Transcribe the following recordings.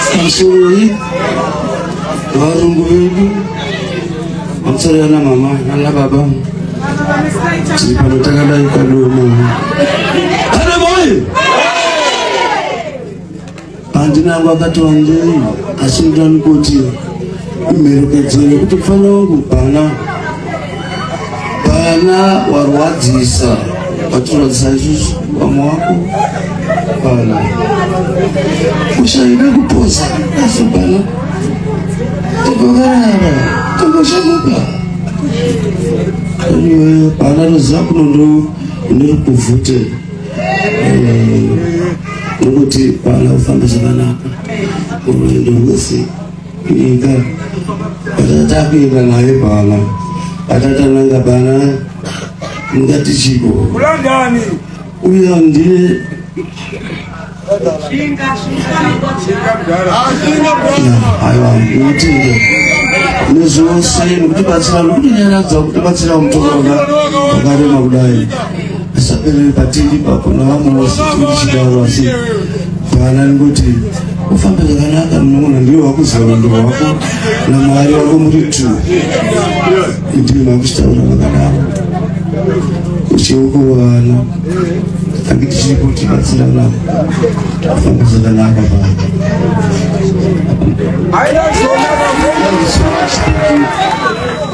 Sasiyoi varungu vedu vamusarira na mama nana baba tiri pano takadai kadoma adamai handina angu akati wandei asi ndani kuti imherekedzo yekuti mfana wangu bhana vana warwadzisa vatirwadzisa isusu vamwe wako vana ushaida kuposa asi bana tikokarara tikoshamuka bana roziva kuno ndo ndiri kuvhute eh, ndokuti bana ufambe zvakanaka unoenda wese Ita takuenda naye bana atatananga bana ngati chiko kulandani uya ndiye aiwa mutinde nezvose nekutibatsira nekutinyaradza kutibatsira mutoona wakarema kudai asaperere patiri papo navamwe vose tichidaro asi bana nekuti Ufambe zvakanaka munogona ndiwe wakuziva vandu vako namwari wako muri two ndiwe vakuchitaura vakadaro uchiukuwana tange tichiripo tibatsirana ufambe zvakanaka baba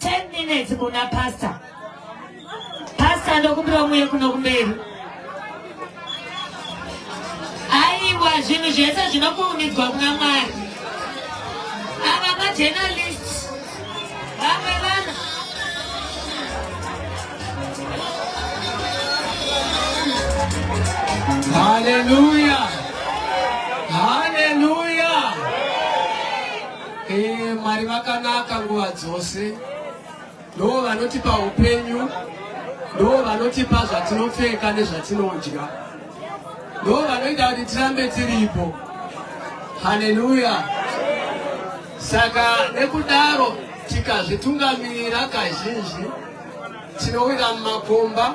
10 minutes kuna pastor pastor ndokumbira muye kuno kumberi aiwa zvinhu zvese zvinokuumidzwa kuna mwari ava majenalist vamwe vanhu haleluya Ee, Mwari vakanaka nguva dzose. Ndoo vanotipa upenyu, ndoo vanotipa zvatinopfeka nezvatinodya, ndoo vanoita kuti tirambe tiripo. Haleluya! Saka nekudaro tikazvitungamirira kazhinji tinowira mumakomba